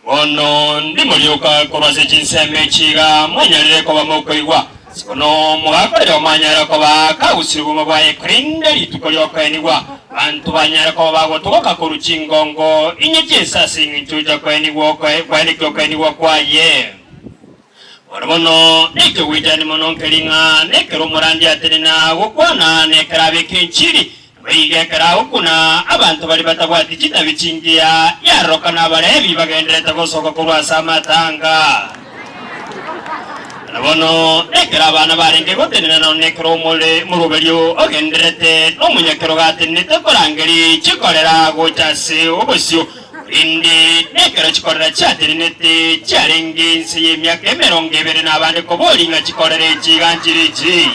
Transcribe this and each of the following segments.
Bono ndimorioka korwa ase chinsemo echi iga monyarire koba mokoigwa. Bono mogakorera omwanyare koba akagusirie obogima bwaye korende rituko ri'okoenigwa banto banyare koba bagotogoka korwa chingongo inye chinsa ase engencho ya okoenigwa okoe- kwanekire okoenigwa kwaye. Bono bono naitwe goichani mono nke ring'ana ekero omorandia atenena gokwana na ekero abeka enchiri, nabo iga ekero agokuna abanto baria batabwati chitabi chingiya yaroroka na Abalevi bagendererete gosoka korwa ase amatanga. Bono bono nekero abana barenge gotenena nonya nekero omore moruberio ogendererete nomonyakero gatenenete korangeri chikorera gocha ase obosio, Korende nekero chikorera chiatenenete chiarenge inse y'emiaka emerongo ebere na abande koboria ng'a chikorera echi iganchire ichi.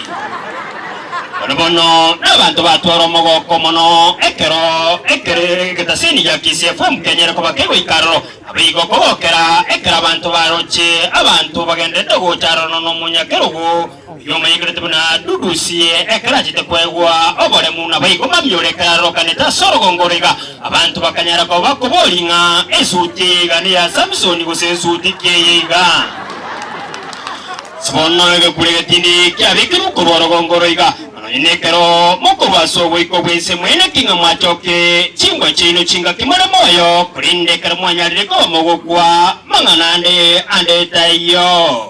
Bono bono nabanto batwara omogoko mono ekero ekere egetasini gia KCFM kenyare koba kegoika aroro. Naboigo kogokera ekero abanto baroche abanto bagenderete gocha aroro nono omonyakerogo. Oyio omanyekanete buna Dudusi, ekero achete kwegwa oboremu, naboigo mambia ore kararorokanete ase orogongo ore iga, abanto bakanyara koba bakoboria ng'a ensuti eye iga neya Samisoni gose ensuti ki eye iga. Ase bono egekure getindi kiabekirwe korwa orogongo oro iga, na nonye nekero mokorwa ase oboiko bw'ense mweneki ng'a mwachoke chimbwa chiaino chingaki more moyo, korende ekero mwanyarire koba mogokwa, mang'ana ande ande taiyo.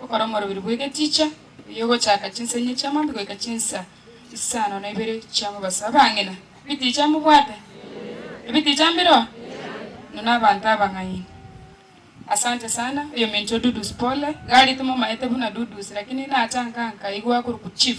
Gokora omorobiri bw'egeticha, oyio ogochaka chinsa inye chi'amambia goika chinsa isano na ibere chi'amobaso. Abang'ina, ebiticha mobwate? Ebiticha mbireo? Inwe nabanto abang'aini. Asante sana, oyominto Dudus pole, gari timomaete buna Dudus, lakini natanka nkaigwa akorokwa chief.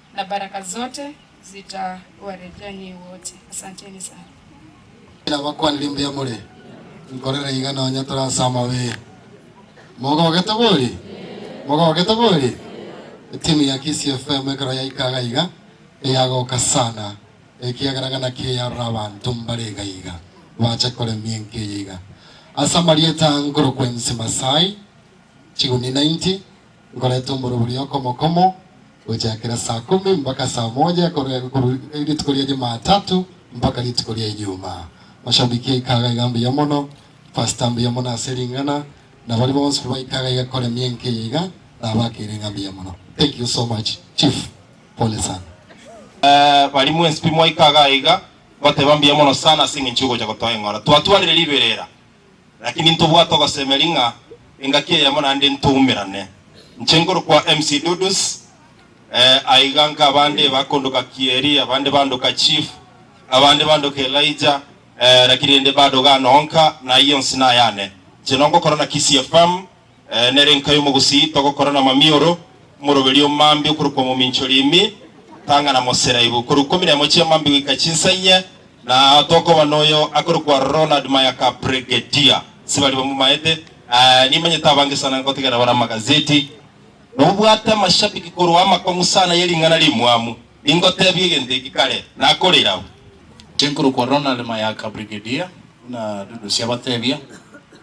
Na baraka zote zitawarejea nyie wote. Asanteni sana. Nabakwanire mbuya more, nkorera iga nonya tore ase amabe. Mogogete bori? Mogogete bori? Etimu ya Kisii FM ekero yaika iga iga, eyagoka sana, ekiagera iga naki eyarora abanto mbare iga iga, bache koremia enka eye iga. Ase amarieta a nkorokwa Ensi Masai, chiguni 90, Nkorete omoro boria okomokomo gochakera saa komi mbaka saa moja korwa rituko ria Jumatatu mbaka rituko ria Ijumaa. Mashabiki aika iga iga mbuya mono, Pastor mbuya mono ase ring'ana, na baria bonsi baika iga iga koremia enka eye iga, nabakeire ng'a mbuya mono. Thank you so much Chief, pole sana. Baria mwensi pi mwaika iga iga, ngoteba mbuya mono sana ase eng'encho y'ogocha gotoa eng'ora. Twatwarire riberera. Lakini ntobwate ogosemeria ng'a engaki eyemo naende ntoumerane. Inche nkorokwa MC Dudus, eh, aiga nka abande bakondoka Kieri, abande bandoka Chief, abande bandoka Elijah, eh, lakini rende bado gano onka, na ayio onsi nayane. Inche nongokorana Kisii FM. Ee, nere nka y'omogusii togokora namamioro, omoroberio omambi okorokwa mominchori imi, tang'a na moseraibu, korwa ikomi na emo chi'amambi goika chinsainyia, na ao tokoba noyo akorokwa Ronald Mayaka Brigadier. Sibari bamomaete. Ee, nimanyete abange sana ngotegerera bare amagazeti. Nobwate amashabiki korwa amakong'u sana ye ring'ana rimwamu. Ningotebie egento eki kare, nakorire abwo. Inche nkorokwa Ronald Mayaka Brigadier, buna Dudusi abatebia.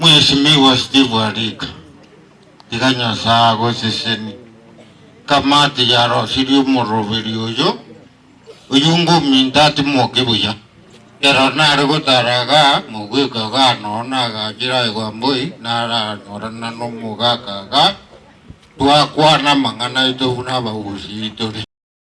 Mheshimiwa Steve Warika, tiga Nyasae agosesenie. Kamati yarosirie omoroberi oyo, oyio ingo ominto atimoke buya. Ero nare gotara iga, mogweko iga noo nagachire aye Wamboi naranyorana nomogaka iga, twakwana amang'ana aito buna abagusii tore.